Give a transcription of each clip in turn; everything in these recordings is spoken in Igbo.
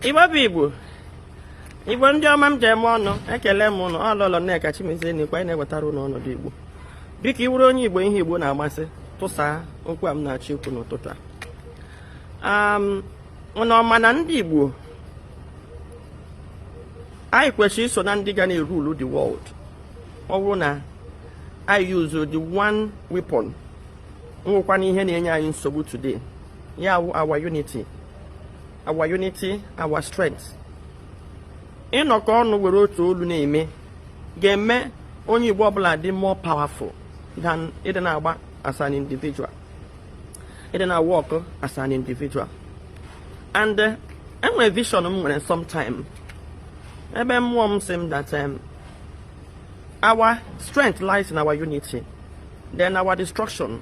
igbo bụ igbo igbo ndị ọma m ji eme ọnụ ekelee m ụnụ ọ lọlọ nneka chimezie n'ikwe anyị na-ewetara ụnụ ọnọdụ igbo biko ị wụrụ onye igbo ihe igbo na-amasị tụsa okwu a m na-achọ ikwu n'ụtụtụ a ụnụ ọ ma na ndị igbo anyị kwesịrị iso na ndị ga na-erule the world ọ bụrụ na anyị use the one weapon wụkwanụ ihe na-enye anyị nsogbu today ya wụ our unity our unity our strength ịnọkọ ọnụ were otu olu na-eme ga-eme onye Igbo ọbụla dị more powerful than ịdị na-agba as an individual ịdị na-awork as an individual and eh, enwere vision m nwere sometime ebe mmụọ m sị m that um, our strength lies in our unity then our destruction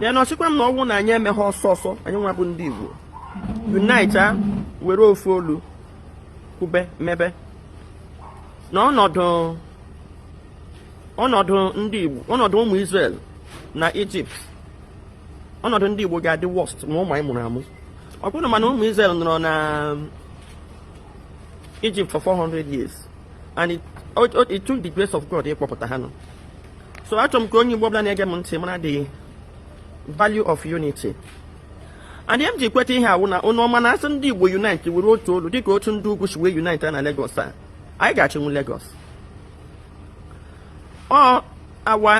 then ọ sịkwa m na ọ wụ na anyị emeghị ọsọ ọsọ anyị nwa bụ ndị Igbo unite a were ofu olu kwube mebe na ọnọdụ ọnọdụ ndị Igbo ọnọdụ ụmụ Israel na Ijipt ọnọdụ ndị Igbo ga-adị worst ma ụmụ anyị mụrụ amụ ọ bụrụ mana ụmụ Israel nọrọ na Ijipt for 400 years and it, it, it took the grace of God ịkpọpụta ha nọ so achọrọ m ka onye Igbo ọbụla na-ege m ntị mara the value of unity adị m ji kweta ihe a wụ na ụnụ ọ ma na a sị ndị Igbo unite were otu olu dịka otu ndị ugwu si wee unite na Lagos a anyị ga-achịnwu Lagos ọ awa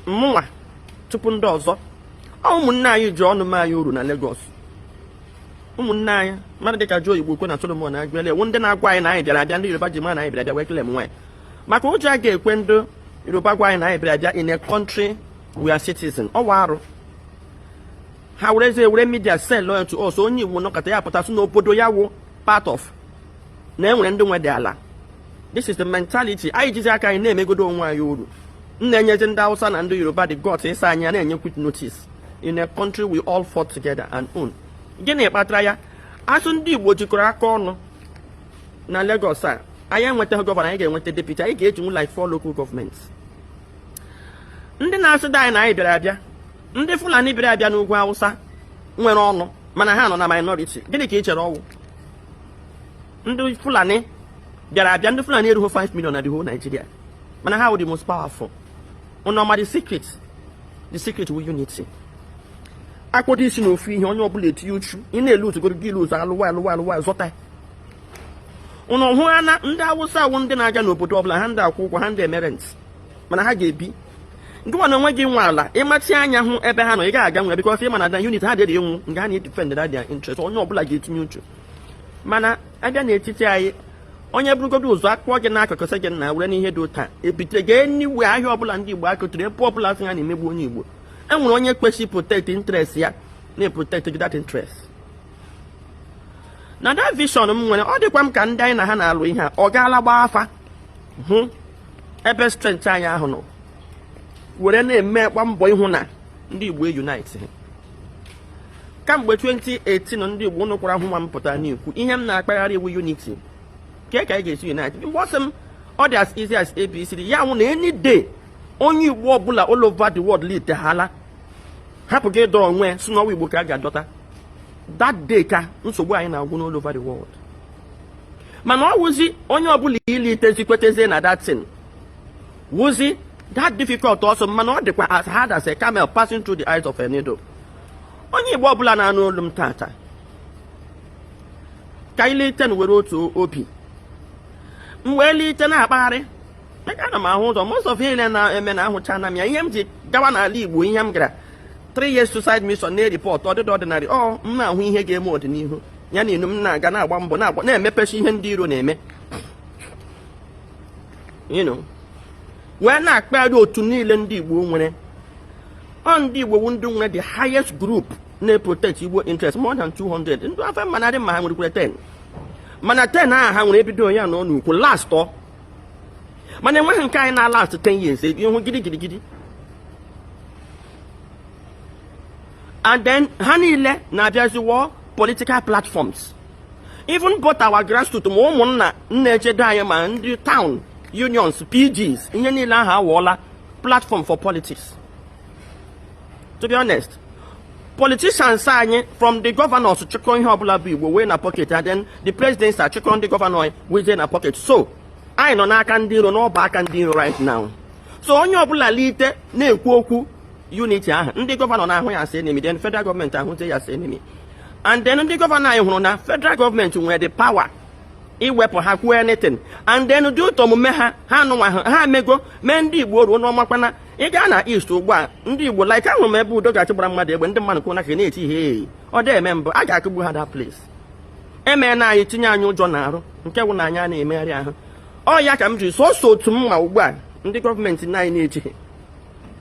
mụnwa tupu ndị ọzọ ọ ụmụnne anyị ji ọnụ mee anyị uru na Lagos ụmụnne anyị mmadụ dịka Joe Igbokwe na Solomon Aguene wụ ndị na-agwa anyị na anyị bịara abịa ndị Yoruba ji ma na anyị bịara abịa wee kele m nwaanyị maka ụjọ a ga-ekwe ndị yoruba gwa anyị na anyị bịara abịa in a country we are citizen ọwa arụ ha were eze were media sell loyal to us onye igbo nọkata ya pụta sị na obodo ya wụ part of na enwere ndị nwedị ala this is the mentality anyị jizi aka anyị na-emegodo onwe anyị uru m na-enyezi ndị hausa na ndị yoruba the guts ịsị anyị a na-enye quit notice in a country we all fought together and own gịnị kpatara ya a sị ndị igbo jikọrọ aka ọnụ na Lagos a anyị enwetaghị gọvanọ anyị ga-enweta deputy anyị ga-ejinwu like four local government ndị na-asịdị anyị na anyị bịara abịa ndị Fulani bịara abịa n'ugwu Awụsa nwere ọnụ mana ha nọ na minority gịnị ka ị chere ọ wụ ndị Fulani bịara abịa ndị Fulani erughị 5 million na the whole Nigeria mana ha wụ the most powerful ụnụ ọ ma the secret the secret wụ unity a kpọdo isi na ofu ihe onye ọbụla etinye uchu ị na-ele utu goro gị ilu ụzọ alụwa alụwa alụwa zọta ụnụ hụ ha na ndị awụsa wụ ndị na-aga n'obodo ọbụla ha ndị akwụ ụgwọ ha ndị eme rent mana ha ga-ebi ngịwa na onwe gị nwe ala ịmachi anya hụ ebe ha nọ ị gaghị aga nwe because ị ma na the unity ha dịrị enwu nga ha na-edefend their interest onye ọbụla ga-etinye uchu mana abịa n'etiti anyị onye burugodu ụzọ akpụọ gị n'akụkụ sị gị na were n'ihe dị ụta ebite gị enyiwe ahịa ọbụla ndị igbo akụtụrụ ebe ọbụla sị ha na-emegbu onye igbo e nwere onye kwesịrị protect interest ya na-eprotect gị that interest na that vision m nwere ọ dịkwa m ka ndị anyị na ha na-alụ ihe a ọ gaala gbaa afa hụ ebe strength anyị ahụ nọ were na-emekwa mbọ ịhụ na ndị Igbo unite kamgbe 2018 ndị Igbo ụnụ kwara hụ nwa m pụta n'ikwu ihe m na-akpagharị wụ unity ka ka anyị ga-esi unite mgbe ọ sị m ọ dị as easy as ABCD ya wụ na any day onye Igbo ọbụla all over the world litehala hapụ gị ịdọ onwe ya sị na ọ wụ igbo ka a ga-adọta that day ka nsogbu anyị na-agwụ n'all over the world mana ọ wụzi onye ọbụla ilitezi kwetezie na that thing wụzi that difficult ọzọ mana ọ dịkwa as hard as a camel passing through the eyes of a needle onye igbo ọbụla na-anụ olu m tata ka ilite were otu obi m wee lite na-akpagharị ana m ahụ ụzọ most of ihe niile na-eme na ahụchana m ya ihe m ji gawa n'ala Igbo ihe m gara three years suicide mission na-ereport ọ dịghị ordinary ọ m na-ahụ ihe ga-eme ọdịnihu ya na inu m na-aga na-agba mbọ na-agba na-emepechi ihe ndị iro na-eme you know wee na-akpagharị otu niile ndị Igbo nwere ọ ndị Igbo wu ndị nwere the highest group na-protect Igbo interest more than 200 ndị ofe mmanụ ma ha nwerekwere 10 mana 10 ahụ ha nwere ebido ya na ọ n'ukwu last ọ mana enweghị nke anyị na-alast 10 years ebi ihu gidi gidi gidi and then ha niile na-abịazi wụọ political platforms even both our grassroots ma ụmụnna na-echedo anyị ma ndị town unions pgs ihe niile ahụ awụọla platform for politics to be honest politicians anyị from the governors chịkọ ihe ọbụla bụ igbo wee na pocket then the president achịkọ ndị gọvanọ wee na pocket so anyị nọ n'aka ndị iro n'ọbụ aka ndị iro right now so onye ọbụla lite na-ekwu okwu unity ahụ ndị gọvanọ na-ahụ ya as enemy then federal gọọmenti ahụzie ya as enemy and then ndị gọvanọ anyị hụrụ na federal gọọmenti nwere the power iwepụ ha kwuo anything and then due to omume ha hanwa ha mego mee ndị igbo oru ụnụ makwa na ị gaa na East ugbu a ndị Igbo like ahụrụ m ebe udo ga-achị gbara mmadụ egbe ndị mmadụ kwụ n'aka na-eti hei ọ dị eme mbụ a ga-akụgbu ha that place emeena anyị tinye anyị ụjọ n'arụ nke wụ na anyị a na-emegharị ahụ ọ ya ka m jiri sọsọ otu m ma ugbu a ndị gọọmenti na anyị na-ejighị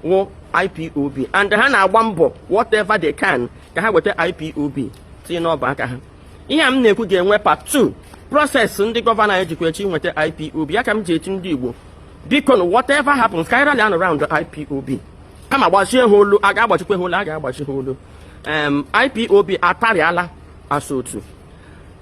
wụ IPOB and ha na-agba mbọ whatever they can ka ha weta IPOB tinye n'ọbụ aka ha ihe a m na-ekwu ga-enwe part 2 process ndị gọvanọ anyị jikwa echi nweta IPOB ya ka m ji asị ndị Igbo biko na whatever happens ka anyị rally around IPOB kama gbachie ha olu a ga-agbachikwa ha olu a ga-agbachi ha olu IPOB atarịala asa otu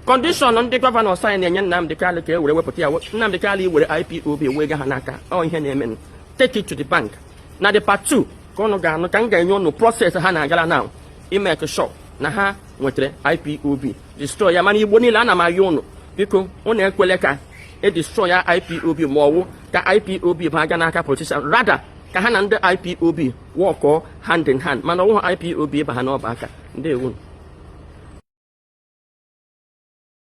condition ndị gọvanọ anyị na-enye Nnamdị Kalụ ka e were wepụta ya Nnamdị Kalụ iwere IPOB wee ga ha n'aka ọ ihe na-emenụ take it to the bank na the part 2 ka ụnụ ga-anụ ka m ga-enye ụnụ process ha na-agara na ịmake sure na ha nwetara IPOB destroy ya mana Igbo niile ana m ayọ ụnụ biko ụnụ ekwele ka e destroy ya IPOB ma ọ wụ ka IPOB baga n'aka politician rather ka ha na ndị IPOB workọọ hand in hand mana ọ wụhụ IPOB ịba ha n'ọbụ aka ndị ewu